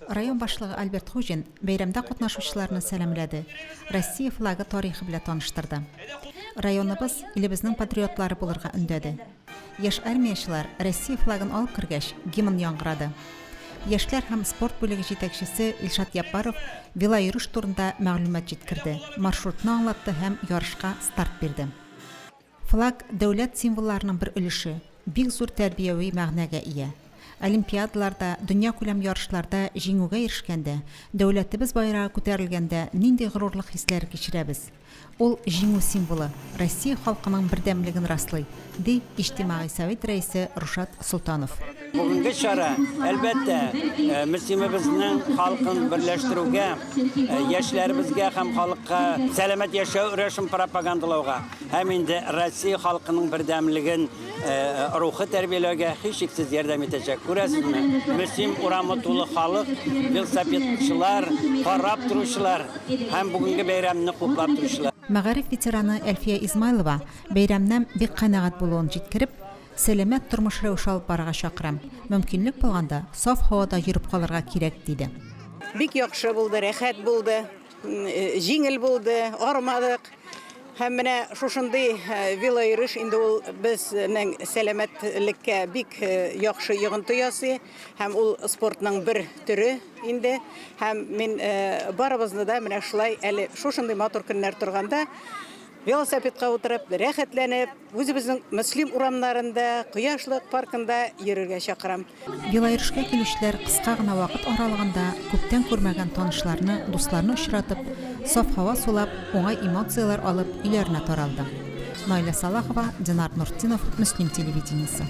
Район башлыгы Альберт Хуҗин бәйрәмдә катнашучыларны сәламләде, Россия флагы тарихы белә таныштырды. Районыбыз илебезнең патриотлары булырга өндәде. Яшь армиячылар Россия флагын алып кергәч, гимн яңгырады. Яшьләр һәм спорт бүлеге җитәкчесе Илшат Яппаров велоиөреш турында мәгълүмат җиткерде, маршрутны аңлатты һәм ярышка старт бирде. Флаг, дәүләт символларының бер өлеше, бик зур тәрбияви мәгънәгә ия. Олимпиадаларда, дөньякүләм ярышларда җиңүгә ирешкәндә, дәүләтебез байрагы күтәрелгәндә нинди горурлык хисләре кичерәбез? Ул, Җиңү символы, Россия халкының бердәмлеген раслый, ди Иҗтимагый совет рәисе Рушат Солтанов. Бүгенге чара, әлбәттә, э, мөслимебезнең халкын берләштерүгә, э, яшьләребезгә һәм халыкка сәламәт яшәү рәвешен пропагандалауга һәм инде Россия халкының бердәмлеген э, рухы тәрбияләүгә һичшиксез ярдәм итәчәк. Күрәсезме, мөслим урамы тулы халык, велосипедчылар, карап торучылар һәм бүгенге бәйрәмне хуплап торучылар. Мәгариф ветераны Әлфия Измайлова бәйрәмнән бик канәгать булуын җиткереп, Сәламәт тормыш рәвеше алып барырга чакырам. Мөмкинлек булганда, саф һавада йөреп калырга кирәк, диде. Бик яхшы булды, рәхәт булды, җиңел булды, арымадык. Һәм менә шушындый велойөреш инде ул безнең сәламәтлеккә бик яхшы йогынты ясый. Һәм ул спортның бер төре инде. Һәм мин барыбызны да менә шулай әле шушындый матур көннәр торганда, Велосипедка утырып, рәхәтләнеп, үзебезнең Мөслим урамнарында, Кояшлык паркында йөрергә чакырам. Велоирешкә килүчеләр кыска гына вакыт аралыгында күптән күрмәгән танышларны, дусларны очратып, саф һава сулап, уңай эмоцияләр алып, өйләренә таралды. Наилә Салахова, Динар Нуртдинов, Мөслим телевидениесе.